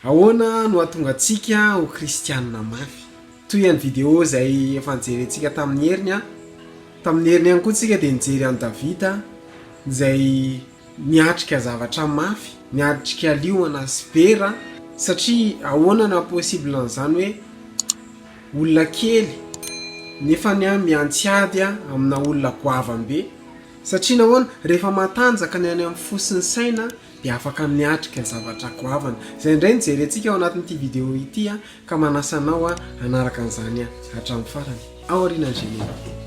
Ahoana no hahatonga antsika ho kristiana mafy? Toy ihany video izay efa nijerentsika tamin'ny heriny an! Tamin'ny heriny ihany koa tsika dia nijery an'i Davida izay niatrika zavatra mafy, niatrika liona sy bera, satria ahoana no haha-possible an'izany hoe olona kely nefa ny an miantsy ady an amina olona goavam-be? Satria nahoana? Rehefa matanjaka ny any amin'ny fo sy ny saina dia afaka miatrika ny zavatra goavana izay indray no jerentsika ao anatin'ity video ity ka manasa anao hanaraka an'izany hatramin'ny farany ao aorianan'ny générique.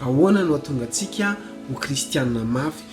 Ahoana no hahatonga antsika ho kristiana mafy?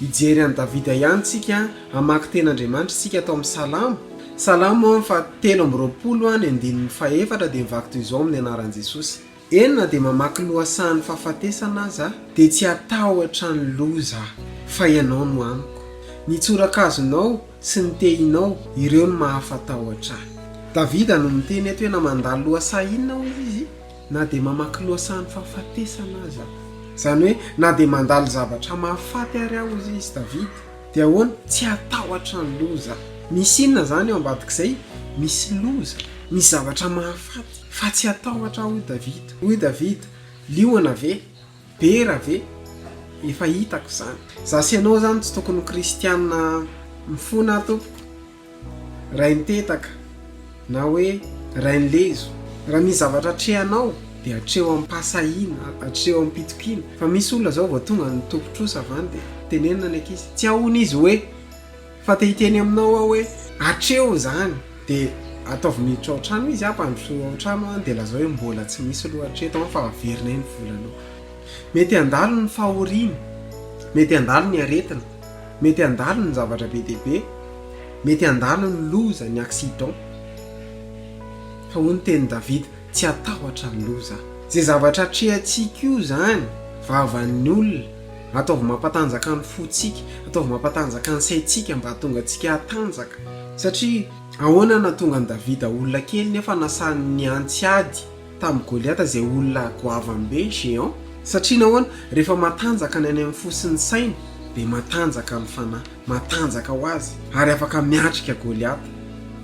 Hijery an'i Davida ihany isika, hamaky teny Andriamanitra isika tao amin'ny Salamo, Salamo fahatelo amby roapolo ny andininy fahefatra dia mivaky toy izao amin'ny anaran'i Jesosy, Eny na dia mamaky lohasahan'ny fahafatesana aza aho dia tsy hatahotra ny loza fa Ianao no amiko, ny tsorakazonao sy ny tehinao ireo no mahafatahotra ahy. Davida no miteny eto hoe na mandalo lohasaha inona hoy izy, Na dia mamaky lohasahan'ny fahafatesana aza aho. Izany hoe, na dia mandalo zavatra mahafaty àry aho, hoy izy, Davida, dia ahoana? Tsy hatahotra ny loza. Misy inona izany eo ambadik'izay? Misy loza, misy zavatra mahafaty, fa tsy hatahotra aho, hoy Davida. Hoy Davida, Liona ve? Bera ve? Efa hitako izany. Za sy ianao izany tsy tokony ho kristiana mifona tompoko. Raim-petaka na hoe rain-lezo. Raha misy zavatra atrehanao dia atreho am-pahasahiana, atreho am-pitokiana. Fa misy olona izao vao tonga any tompon-trosa avy any dia tenenina ny ankizy, tsy ahoana izy hoe. Fa te hiteny aminao aho hoe. Atreho izany, dia ataovy miditra ao an-trano izy aho, mpandroso ao an-trano aho, dia lazao hoe mbola tsy misy loha hatreto an, fa averina eny volanao. Mety handalo ny fahoriana, mety handalo ny aretina, mety handalo ny zavatra be dia be, mety handalo ny loza, ny accident, fa hoy ny tenin'i Davida, tsy hatahotra ny loza aho. Izay zavatra atrehantsika io izany, vavan'ny olona. Ataovy mampatanjaka ny fontsika, ataovy mampatanjaka ny saintsika mba hahatonga antsika hatanjaka. Satria ahoana no nahatonga an'i Davida olona kely nefa nasany nihantsy ady tamin'i Goliata izay olona goavany be, géant? Satria nahoana? Rehefa matanjaka ny any amin'ny fo sy ny saina, dia matanjaka ny fanahy, matanjaka ho azy, ary afaka miatrika Goliata.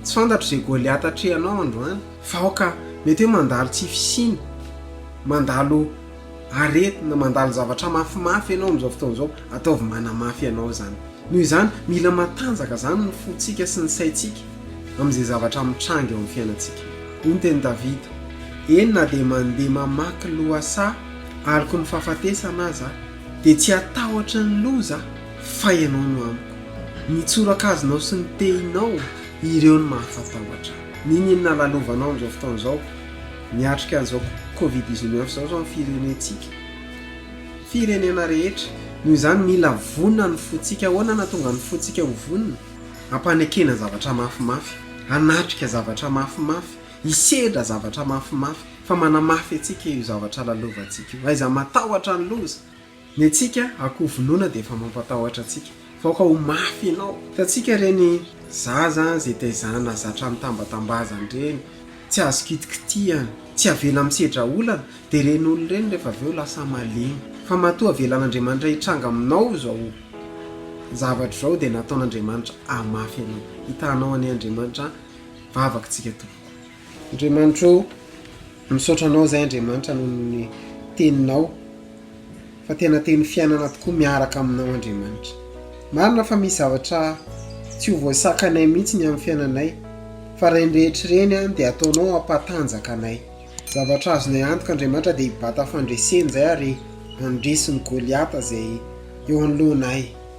Tsy fantatro izay Goliata atrehanao androany, fa aoka mety hoe mandalo tsy fisiana, mandalo. aretina, mandalo zavatra mafimafy ianao amin'izao fotoana izao, ataovy manamafy anao izany. Noho izany, mila matanjaka izany ny fontsika sy ny saintsika amin'izay zavatra mitranga eo amin'ny fiainantsika. Hoy ny tenin'i Davida, Eny na dia mandeha mamaky lohasaha aloky ny fahafatesana aza aho, dia tsy hatahotry ny loza aho, fa Ianao no amiko. Ny tsorakazonao sy ny tehinao, ireo no mahafatahotra ahy. N'inon'inona lalovanao amin'izao fotoana izao, Miatrika an'izao covid dix neuf izao izao ny firenentsika, firenena rehetra. Noho izany mila vonona ny fontsika. Ahoana no hahatonga ny fontsika ho vonona? Ampanekena zavatra mafimafy, hanatrika zavatra mafimafy, hisedra zavatra mafimafy fa manamafy antsika io zavatra lalovantsika io. Aiza matahotra ny loza? Ny antsika akoho vonoina dia efa mampatahotra antsika fa aoka ho mafy ianao. Hitantsika ireny zaza izay taizana zatra nitambatambazana ireny, tsy azo kitikitihana, tsy avela misedra olana, dia ireny olona ireny rehefa avy eo lasa malemy. Fa matoa avelan'Andriamanitra hitranga aminao izao zavatra izao dia nataon'Andriamanitra hamafy anao. Hitanao anie Andriamanitra an, vavaka tsika tompoko. Andriamanitro o! Misaotra anao zahay Andriamanitra noho ny teninao fa tena teny fiainana tokoa miaraka aminao Andriamanitra. Marina fa misy zavatra tsy ho voasakanay mihitsy ny amin'ny fiainanay fa ireny rehetra ireny an dia ataonao hampatanjaka anay. Zavatra azonay antoka Andriamanitra dia hibata fandresena izay ary handresy ny Goliata izay eo anoloanay.